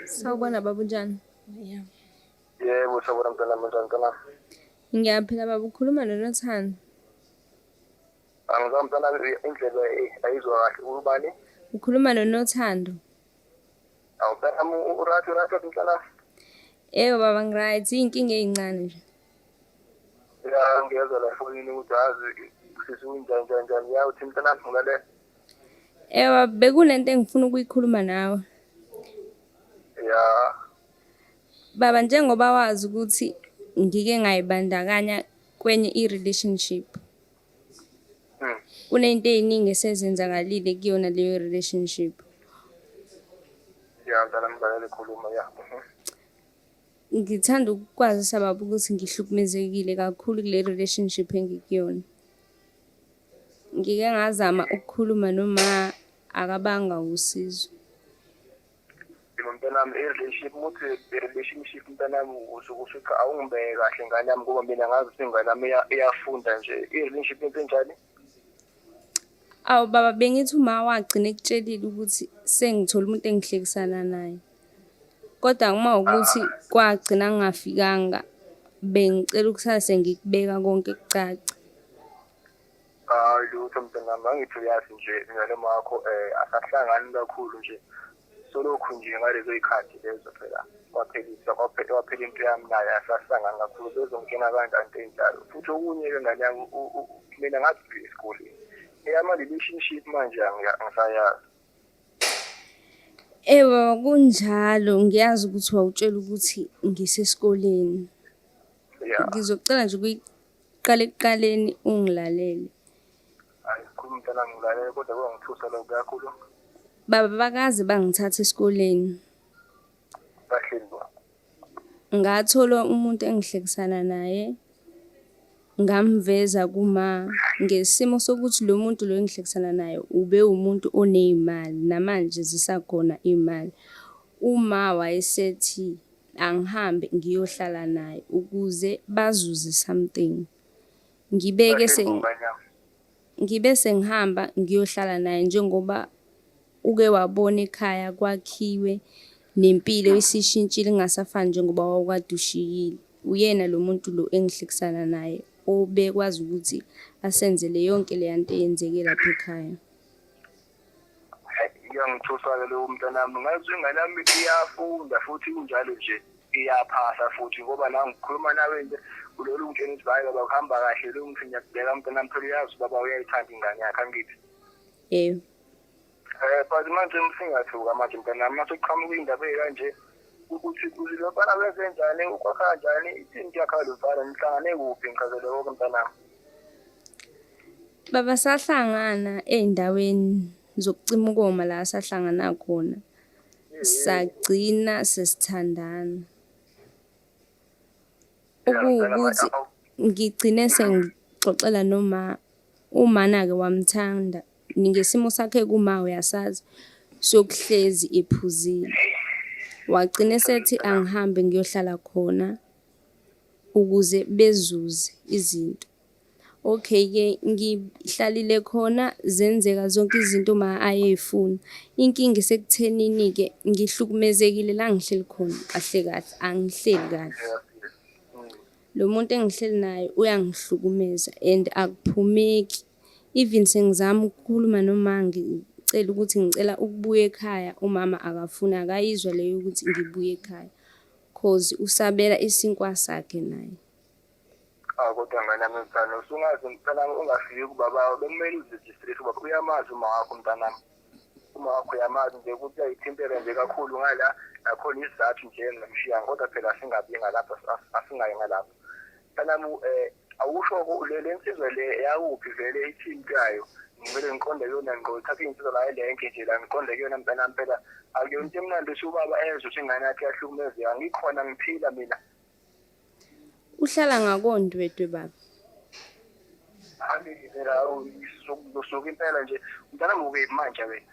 Sawubona baba unjani? Yeah. Yebo sawubona mntwana mntwana mntwana. Ngiyaphila baba ukhuluma noNathani. Angizwa mntwana indlela eh, ayizwa kahle ubani? Ukhuluma noNothando. Awu mntwana urathi urathi mntwana. Yebo baba ngiright inkinga ezincane nje. Ya ngiyezwa la fonini ukuthi azi sisi unjani njani njani. Ya uthi mntwana ngale. Ewa bekunento engifuna ukuyikhuluma nawe. Ya. Baba njengoba wazi ukuthi ngike ngayibandakanya kwenye i-relationship. Hmm. Kunento eziningi esezenzakalile kuyona leyo relationship. Ya ngicela ngibalele khuluma ya. Mhm. Ngithanda ukukwazisa baba ukuthi ngihlukumezekile kakhulu kule relationship engikuyona. Ngike ngazama ukukhuluma noma akabanga usizo. Yebo mntanami i-relationship ukuthi relationship mntanami usuke ufica awungibeke kahle ngane yami ngoba mina ngazi ukuthi ingane yami iya- iyafunda nje i-relationship into enjani Awu baba bengithi uma wagcina ekutshelile ukuthi sengithola umuntu engihlekisana naye. Kodwa uma ukuthi kwagcina ngingafikanga bengicela ukusase ngikubeka konke kucace. Hayi lutho mntanami angithi uyazi nje mina noma wakho eh asahlangani kakhulu nje solokhu nje ngalezo y'khathi lezo phela kwaphelisa kwaphela waphela into yami naye asahlangani kakhulu bezongena kanjani into enjalo futhi okunye-ke ngane yami u- u- u- mina ngathi esikoleni eyama relationship manje angiya- angisayazi Ewe kunjalo ngiyazi ukuthi wawutshela ukuthi ngisesikoleni. Yeah. Ngizocela nje ukuyiqala ekuqaleni ungilalele. Hayi khulu mntana ngilalele kodwa kwangithusa lokho kakhulu. Baba bakaze bangithatha esikoleni. Bahleli Ngathola umuntu engihlekisana naye, ngamveza kuma ngesimo sokuthi lo muntu lo engihlekisana naye ubewumuntu oney'mali, namanje zisakhona iy'mali. Uma wayesethi angihambe ngiyohlala naye ukuze bazuze something. Ngibeke . Ngibe sengihamba ngiyohlala naye njengoba uke wabona ekhaya kwakhiwe nempilo isishintshile ingasafani njengoba wawukade ushiyile. Uyena lo muntu lo engihlekisana naye obekwazi ukuthi asenzele yonke leya nto eyenzeke lapha ekhaya. iyangithusa-ke leyo mntanami ngazi ingane yami iyafunda futhi injalo nje iyaphasa futhi ngoba la ngikhuluma nawe nje kulolu ngitshena ukuthi hhayi baba kuhamba kahle lo ngithi ngiyakubheka mntanami phela uyazi ubaba uyayithanda ingane yakhe angithi yebo um but manje msingathuka manje mntanami uma sekuqhamuka indaba eyikanje ukuthi uzilobala kwezenjani ukwakha njani ithini kuyakhala lomfana nihlangane kuphi ngichazele konke mntanami Baba sahlangana ey'ndaweni zokucima ukoma la sahlangana khona, sagcina sesithandana. Okuwukuthi ngigcine sengixoxela noma umana-ke wamthanda, ngesimo sakhe kuma uyasazi sokuhlezi ephuzile. Wagcina esethi angihambe ngiyohlala khona. ukuze bezuze izinto. Okay ke ngihlalile khona zenzeka zonke izinto uma ayeyifuna. Inkinga isekuthenini ke ngihlukumezekile la ngihleli khona kahle kahle angihleli kahle. Lo muntu engihleli naye uyangihlukumeza and akuphumeki. Even sengizama ukukhuluma noma ngicela ukuthi ngicela ukubuya ekhaya umama akafuni akayizwa leyo ukuthi ngibuye ekhaya. Cause usabela isinkwa sakhe naye. Awu kodwa mntanami mfana usungazi mntanami ungafiki kubaba bekumele uziregistrate ubaba uyamazi uma wakho mntanami. Uma wakho uyamazi nje ukuthi uyayithintela nje kakhulu ngala nakhona isizathu nje engamshiya kodwa phela singabi ngalapho as- as- asingayi ngalapho. Mntanami um awushoko ulele insizwa le yakuphi vele ithintayo ngivele ngiqonde kuyona ngqo thatha iy'nsizwa la elenke nje la ngiqonde kuyona mntanami phela akuyona into emnandi ukuthi ubaba ezwe ukuthi ingane yakhe yahlukumezeka ngikhona ngiphila mina uhlala ngakondwedwe baba angiphela usuke impela nje mntanami uke manje wena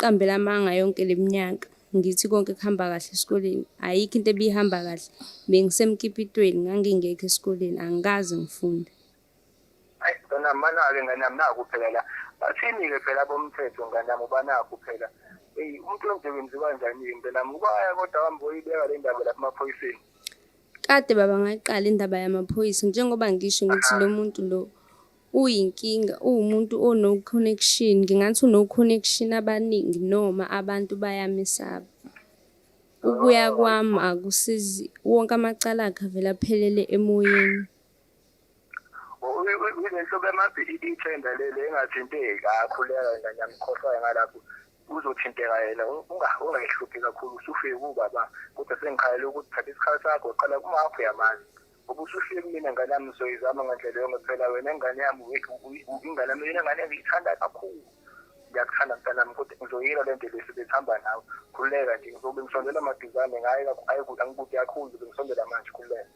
Qambela amanga yonke leminyaka ngithi konke kuhamba kahle esikoleni ayikho into ebihamba kahle bengisemkipitweni ngangingekho esikoleni angikaze ngifunde ayi ngane yami banake ngane yami naku phela la bathini-ke phela bomthetho ngane yami ubanaku phela eyi umuntu onje wenziwa njani-ke ngane yami ubaya kodwa wambe oyibeka le ndaba lapha emaphoyiseni kade baba ngayiqala indaba yamaphoyisa njengoba ngisho ngithi lo muntu lo Uyinkinga uwumuntu o no connection ngingathi uno connection abaningi noma abantu bayamesaba. Ukuya kwami akusizi wonke amacala akhe avele aphelele emoyeni. Uyinto bemazi ithenda leli engathinteki akhuleka yena ngiyamkhohlwa ngalapho uzothinteka yena ungayihluphi kakhulu usufike kubaba kodwa sengikhayela ukuthi thatha isikhathi sakho qala kumakho yamazi ubusuhleki mina ngane yami soyizama ngandlela yonke phela wena ingane yami ingane yami yona ngane ngiyithanda kakhulu ngiyakuthanda mntanami kodwa ngizoyila le nto lesi besihamba nawe khululeka nje ngizobe ngisondela maduzane ngaye angikude kakhulu ngizobe ngisondela manje khululeka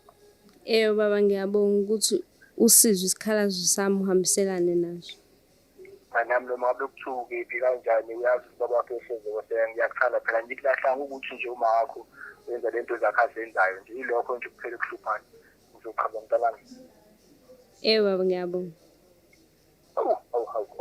eyo baba ngiyabonga ukuthi usizwe isikhalazo sami uhambiselane naso nami noma ngabe kuthiwa ukephi kanjani uyazi ubaba wakhe uhleze kweseka ngiyakuthanda phela ngikulahlanga ukuthi nje uma wakho wenza le nto zakhe azenzayo nje ilokho nje kuphela kuhluphana ngizoqhaba mntanami ewu baba ngiyabonga awu awu awu